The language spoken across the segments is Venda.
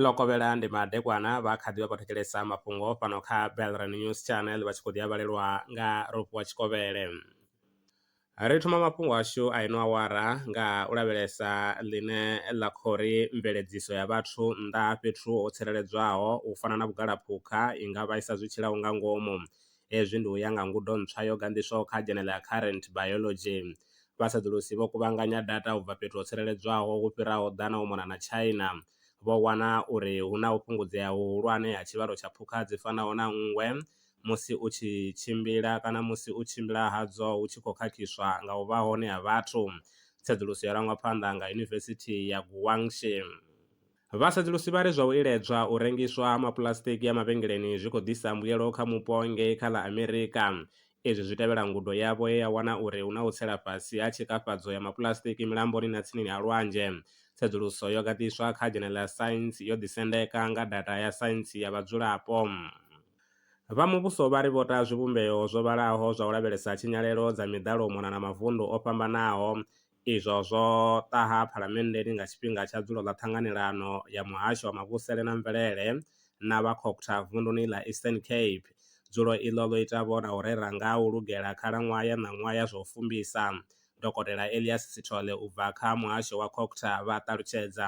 ḽo kovhela ndi madekwana vha kha ḓi vha khou thetshelesa mafhungo fhano kha belran news channel vha tshi khou ḓi a vhalelwa nga ropiwa tshikovhele ri thoma mafhungo ashu a ino awara nga u lavhelesa ḽine ḽa khou ri mveledziso ya vhathu nnḓa ha fhethu ho tsireledzwaho u fana na vhugalaphukha i nga vhaisa zwi tshilaho nga ngomu Hezwi ndi u ya nga ngudo ntswa yo ganḓiswaho kha Journal ya Current Biology. Vhasedzulusi vho kuvhanganya data u bva fhethu ho tsireledzwaho hu fhiraho ḓana u mona na China, vho wana uri hu na u fhungudzea huhulwane ha tshivhalo tsha phukha dzi fanaho na nngwe musi u tshi tshimbila kana musi u tshimbila hadzo hu tshi khou khakhiswa nga u vha hone ha vhathu. Tsedzuluso yo rangwa phanḓa nga Yunivesithi ya Guangxi. Vha sedzulusi vha ri zwa u iledzwa u rengiswa ha mapuḽasitiki a mavhengeleni zwi khou ḓisa mbuyelo kha mupo ngei kha ḽa Amerika. Izwi zwi tevhela ngudo yavho ye ya wana uri hu na u tsela fhasi ha tshikafhadzo ya mapuḽasitiki milamboni na tsinini ha lwanzhe. Tsedzuluso yo gandiswa kha Journal ya Science yo ḓisendeka nga data ya saintsi ya vhadzulapo. Vha muvhuso vha ri vho ta zwivhumbeo zwo vhalaho zwa u lavhelesa tshinyalelo dza miḓalo u mona na mavundu o fhambanaho, izwo zwo ṱaha Phalamenndeni nga tshifhinga tsha dzulo ḽa Ṱhanganelano ya Muhasho wa Mavhusele na Mvelele na vha COGTA vunduni ḽa Eastern Cape. Dzulo iḽo ḽo ita vho na u rera nga ha u lugela khalaṅwaha ya ṋaṅwaha ya zwa u fumbisa. Dokotela Elias Sithole u bva kha muhasho wa COGTA vha ṱalutshedza.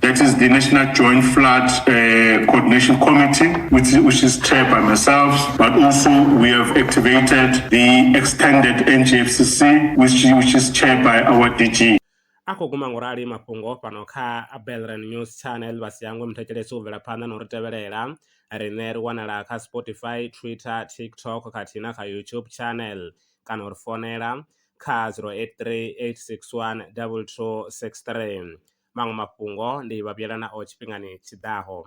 That is the National Joint Flood uh, Coordination Committee, which, which is chaired by myself, but also we have activated the extended NGFCC, which, which is chaired by our DG. a khou guma ngurali mafhungo fhano kha belran news channel vha si hangwe muthetshelesi u bvela phanḓa na u ri tevhelela riṋe ri wanala kha spotify twitter tiktok khathihi na kha youtube channel kana u ri fonela kha 083 861 2263 maṅwe mafhungo ndi vha vhuyela nao tshifhingani tshi ḓaho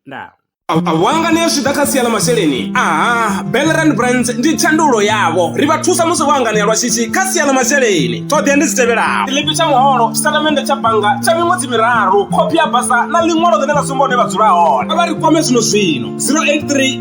ndaa a vho anganea zwi ḓa kha sia ḽa masheleni aha belran brands ndi tshandulo yavho ri vha thusa musi vho anganea lwa shishi kha sia ḽa masheleni ṱhoḓea ndi dzi tevhelaho ḽipi tsha muholo tshitatamennde tsha bannga tsha miṅwedzi miraru khophi ya basa na ḽiṅwalo ḽine ḽa sumba hune vha dzula hone a vha ri kwame zwino zwino 083